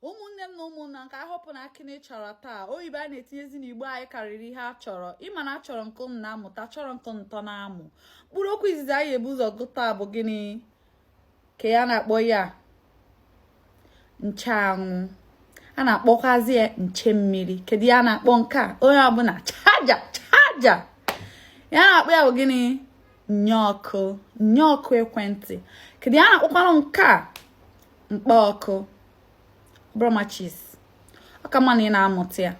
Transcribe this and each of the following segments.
ụmụnne m na ụmụnna nke ahọpụ na akị na chọrọ taa oyibo a na-etinyezi n'igbo anyị karịrị ihe a chọrọ ịma na achọrọ nke ụnụ na-amụta chọrọ nke ntọ na-amụ mkpụrụ okwu izizi anyị ebu ụzọ gụta bụ gịnị ke ihe a na-akpọ ya ncheanwụ a na-akpọkwazi ya nche mmiri kedu ihe a na-akpọ nke a onye ọbụla charger charger ihe a na-akpọ ya bụ gịnị nnyeọkụ nnyeọkụ ekwentị kedu ihe a na-akpọkwanụ nke a mkpa ọkụ ọ bụrọ matches ọ ka mma na ị na-amụta ya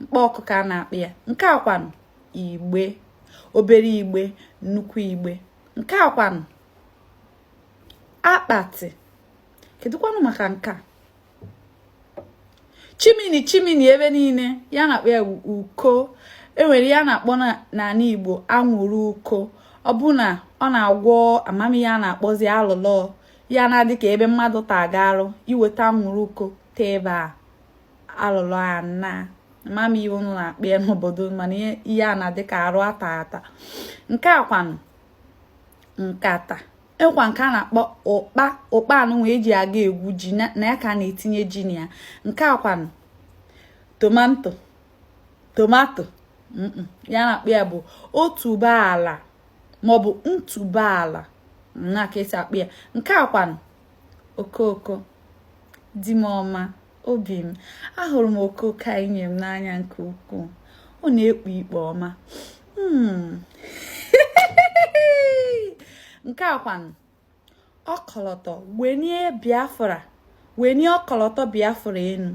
mkpa ọkụ ka a na-akpọ ya nke a kwanụ igbe obere igbe nnukwu igbe nke a kwanụ akpati kedụkwanụ maka nke a chimney chimney ebe niile ihe a na-akpọ ya uko e nwere ihe a na-akpọ n'ala igbo anwụrụ uko ọ bụ na ọ na-agwọ ama m ihe a na-akpọzi alụlọ ihe a na-adị ka ebe mmadụ ta gị arụ i weta anwụrụ uko tee ebe a alụlọ anaa ama m ihe ụnụ na-akpọ ya n'obodo mana ihe a na-adị ka arụ ata ata nke a kwanụ nkata ịkwa nke a na-akpọ ụkpa ụkpa a nụnwa eji aga egwu ji na ya ka a na-etinye ji na ya nke a kwanụ tomato tomato ihe a na-akpọ ya bụ otuboala maọbụ ntuboala na ka e si akpọ ya nke a kwanụ okooko di m ọma obi m ahụrụ m okooko a i nye m n'anya nke ukwuu ọ na-ekpu ikpe ọma hmm. nke a kwanụ ọkọlọtọ wenie biafra wenie ọkọlọtọ biafra enu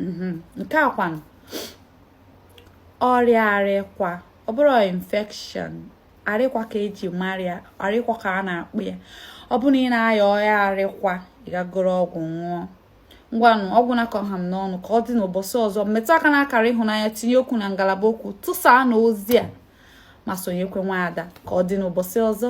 mhm. nke a kwanụ ọrịa arịkwa ọ bụrọ infection arịkwa ka eji mara ya arịkwa ka a na-akpọ ya ọ bụrụ na ị na-aya ọya arịkwa ị gaa goro ọgwụ ṅụọ ngwanụ ọ gwụna ka ọ ha m n'ọnụ ka ọ dị n'ụbọchị ọzọ metụ aka na akara ịhụnanya tinye okwu na ngalaba okwu tụsaanụ ozi a ma sonyekwa nwaada ka ọ dị n'ụbọchị ọzọ